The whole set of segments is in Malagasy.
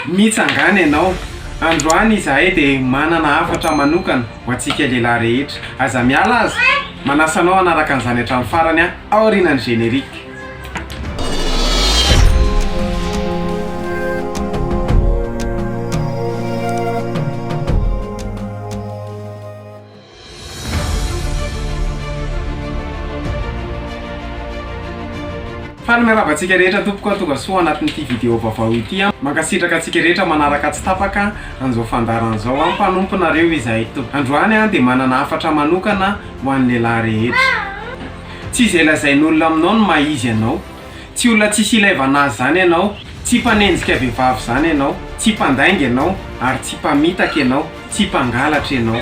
Mitsangàna ianao. Androany izahay dia manana hafatra manokana ho antsika lehilahy rehetra. Aza miala aza. Manasa anao hanaraka an'izany hatramin'ny farany aho, aorianan'ny générique. Faly miarahaba antsika rehetra tompoko tonga soa anatin'ity vidéo vaovao ity an! Mankasitraka antsika rehetra manaraka tsy tapaka an'izao fandaharana izao an! Mpanomponareo izahay tompoko! Androany aho dia manana hafatra manokana ho an'ny lehilahy rehetra! Tsy izay lazain'olona aminao no maha izy anao! Tsy olona tsisy ilaivana azy izany ianao, tsy mpanenjika vehivavy izany ianao, tsy mpandainga ianao, ary tsy mpamitaka ianao, tsy mpangalatra ianao.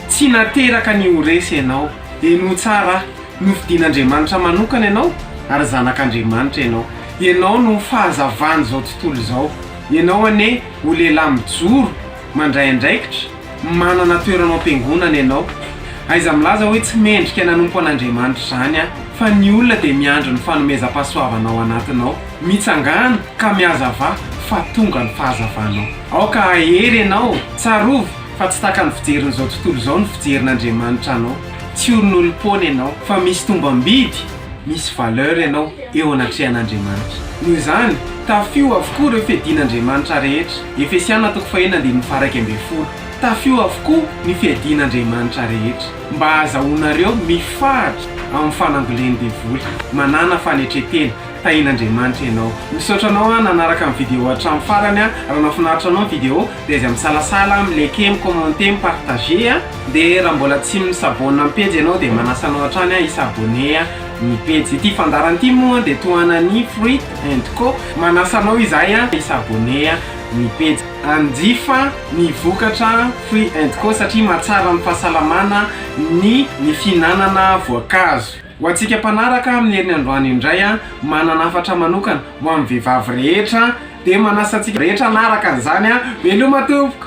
Tsy nateraka ny ho resy ianao. Henoy tsara aho. Nofidin'Andriamanitra manokana ianao, ary zanak'Andriamanitra ianao. Ianao no fahazavan'izao tontolo izao. Ianao anie ho lehilahy mijoro, mandray andraikitra. Manana toerana ao am-piangonana ianao. Aiza milaza hoe tsy mendrika nanompo an'Andriamanitra izany aho, fa ny olona dia miandry ny fanomezam-pahasoavana ao anatinao. Mitsangàna ka mihazavà fa tonga ny fahazavanao. Aoka hahery ianao. Tsarovy fa tsy tahaka ny fijerin'izao tontolo izao ny fijerin'Andriamanitra anao. Tsy olon'olom-poana ianao, fa misy tombam-bidy. Misy valeur ianao eo anatrehan'Andriamanitra. Noho izany, tafio avokoa ireo fiadian'Andriamanitra rehetra. Efesiana toko faheno andininy faharaika ambin'ny folo. Tafio avokoa ny fiadian'Andriamanitra rehetra, mba hahazahoanareo mifaritra amin'ny fanangolen'ny devoly. Manàna fanetren-tena. Tahin'Andriamanitra ianao. Misaotra anao aho nanaraka ny video hatramin'ny farany aho. Raha nahafinaritra anao ny video dia aiza misalasala, mi-liker, mi-commenter, mi-partager a! De raha mbola tsy mi-s'abonne am pejy ianao de manasa anao hatrany aho hi-s'abonner ny pejy ity fandaharana ity moa de tohanan'i Fruit and Co manasa anao izahay an hi-s'abonner ny pejy hanjifa ny vokatra Fruit and Co satria mahatsara ny fahasalamana ny ny fihinanana voankazo ho antsika mpanaraka amin'ny heriny androany indray an manana hafatra manokana ho amin'ny vehivavy rehetra de manasa antsika rehetra hanaraka an'izany an veloma tompoko.